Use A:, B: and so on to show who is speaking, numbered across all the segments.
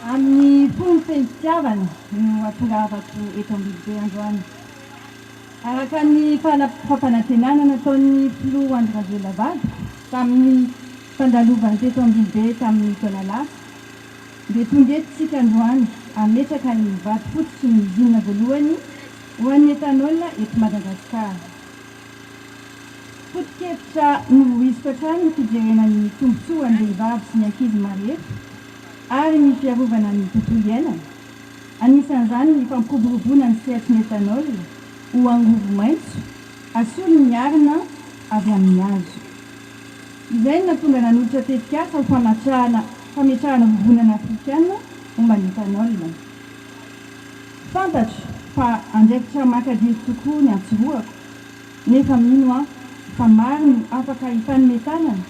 A: Amin'ny fony feno fitiavana no atongahavako eto Ambilobe androany. Araka ny fampanantenana nataon'ny Filoha Andry Rajoelina vadiko tamin'ny fandalovany teto Ambilobe tamin'ny taona lasa dia tonga eto isika androany hametraka ny vato fototry ny usine voalohany ho an'ny ethanol eto Madagasikara. Foto-kevitra novoiziko hatrany ny fijerena ny tombontsoa an'ny vehivavy sy ny ankizy marefo. ary ny fiarovana ny tontolo iainana, anisan'izany ny fampiroboroboana ny sehatry ny ethanol ho angovo maitso asolo miarina avy amin'ny hazo. Izay no nahatonga nanolotra tetikasa ho famatrahana fametrahana vovonana afrikana momba ny ethanol. Fantatro fa andraikitra makadiry tokoa ny antsorohako, nefa mino aho fa maro no afaka hitanome tanana,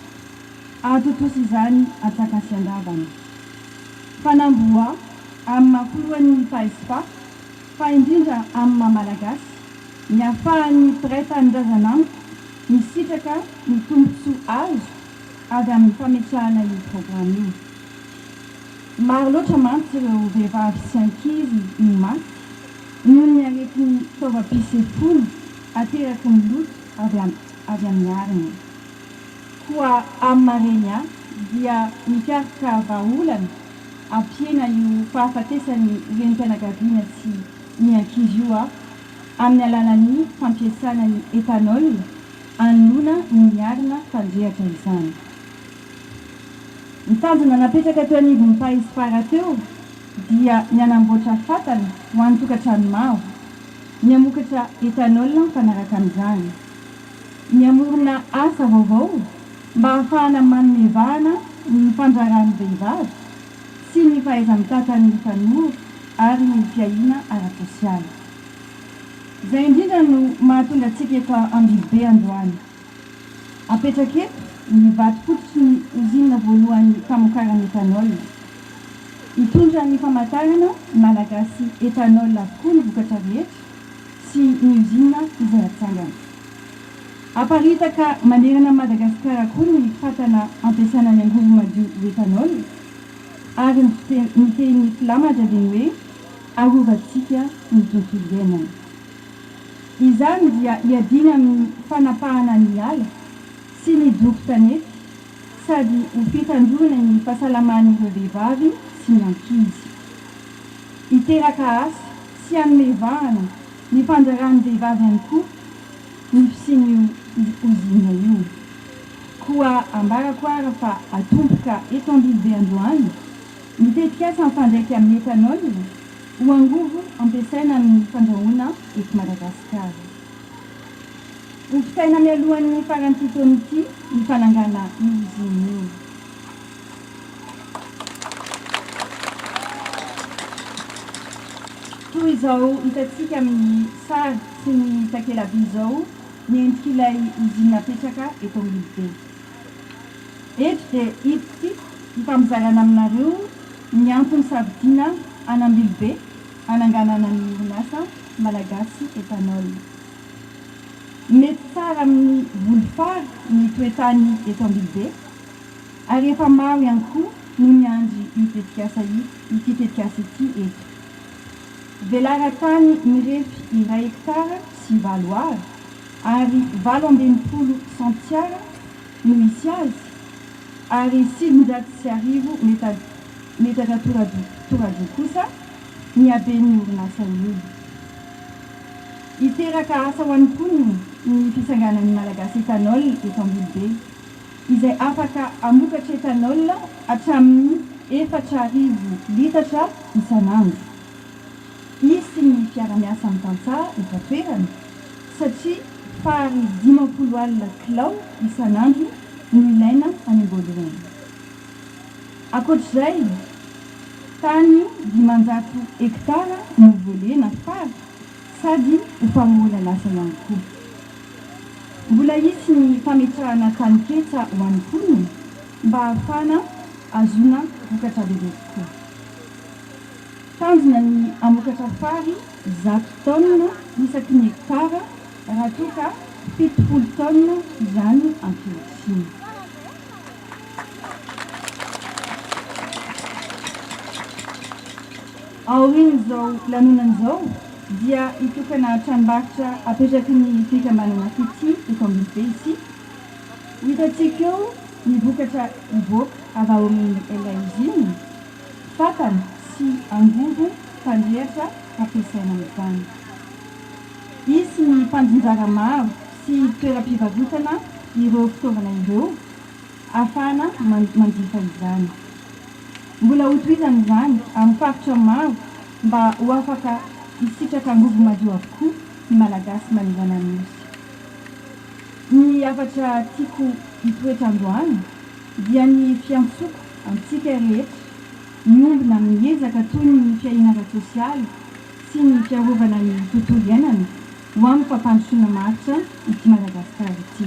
A: Antontosa izany Atsakasiandavana. Fanamboha amin'ny maha filohan'ny Taespa, fa indrindra amin'ny maha Malagasy, ny ahafahan'ny mpiray tanindrazana amiko misitraka ny tombontsoa azo avy amin'ny fametrahana io programa io. Maro loatra mantsy ireo vehivavy sy ankizy no maty noho ny aretin'ny taovam-pisefoana ateraky ny loto avy amin'ny arina. Koa amin'ny mareny dia mikaroka vahaolana hampihena io fahafatesan'ny renim-pianakaviana sy ny ankizy io aho amin'ny alalan'ny fampiasana ny ethanol anoloana ny miarina mpanjehatra izany. Ny tanjona napetraka teo anivon'ny Paesfara teo dia ny hanamboatra fatana ho an'ny tokantrano maro, ny hamokatra ethanol mifanaraka amin'izany. ny hamorona asa vaovao mba hahafahana manome vahana ny fandrarahan'ny vehivavy sy ny fahaiza-mitatan'ny tanora ary ny fiahiana ara-tsosialy. Izay indrindra no mahatonga antsika eto Ambilobe androany. Apetraka eto ny vato fototry ny ozinina voalohany famokarana ethanol. Hitondra ny famantarana Malagasy Ethanol avokoa ny vokatra rehetra. sy ny usine izay hatsangana. Haparitaka manerana an'i Madagasikara koa ny fatana ampiasana ny angovo madio ho ethanol ary ny ny tehin'ny filamatra dia ny hoe arovantsika ny tontolo iainana. Izany dia iadiana amin'ny fanapahana ny ala sy ny doro tanety sady ho fitandroana ny fahasalaman'ireo vehivavy sy ny ankizy. hiteraka asa tsy hanome vahana ny fandraran'ny vehivavy ihany koa ny fisian'io ozinina io. Koa ambarako ara fa atomboka eto Ambilobe androany ny tetikasa mifandraika amin'ny ethanol ho angovo ampiasaina amin'ny fandrahoana eto Madagasikara. Ho vitaina mialohan'ny faran'ity taona ity ny fanangana io ozinina io. Toy izao hitantsika amin'ny sary sy ny takelaby izao ny endrik'ilay ozinina apetraka eto Ambilobe. Eto dia hiditsy hifampizarana aminareo ny antony safidiana an'Ambilobe hananganana ny orinasa Malagasy Ethanol. Mety tsara amin'ny voly fary ny toe-tany eto Ambilobe. Ary efa maro ihany koa no niandry io tetikasa ity tetikasa ity eto. Velaran-tany mirefy iray hektara sy valo Ar ary valo amby enimpolo sentiara no hisy azy ary sivinjato sy arivo metatra toradroa kosa ny haben'ny orinasa io. Hiteraka asa ho an'ny mponina ny fisanganan'ny Malagasy Ethanol eto Ambilobe. izay afaka hamokatra ethanol hatramin'ny efatra arivo litatra isan'andro, izy sy ny fiarahamiasany tantsaha eto an-toerana, satria fary dimampolo alina kilao isan'andro no ilaina any am-boalohany. Ankoatr'izay, tany dimanjato hektara no volena fary sady ho famoronan'asa ihany koa. Mbola hisy ny fametrahana taninketsa ho an'ny mponina mba hahafahana ahazoana vokatra bebe kokoa. Tanjona ny hamokatra fary zato taonina isaky ny hektara raha toa ka fitopolo taonina izany ankehitriny. Aorian'izao lanonana izao, dia hitokana tranombarotra apetraky ny fikambanana Fitia eto Ambilobe isika. Ho hitantsika eo ny vokatra hivoaka avy ao amin'ilay ozinina, fatana sy angovo fandrehatra hampiasaina amin'izany. Hisy ny mpandrivara maro sy toeram-pivarotana ireo fitaovana ireo hahafahana manjifa izany. Mbola hotohizana izany amin'ny faritra maro mba ho afaka hisitraka angovo madio avokoa ny Malagasy manerana ny Nosy. Ny hafatra tiako hitoetra androany dia ny fiantsoko antsika rehetra miombona amin'ny ezaka toy ny fiahiana ara-tsosialy sy ny fiarovana ny tontolo iainana ho amin'ny fampandrosoana maharitra ity Madagasikara ity.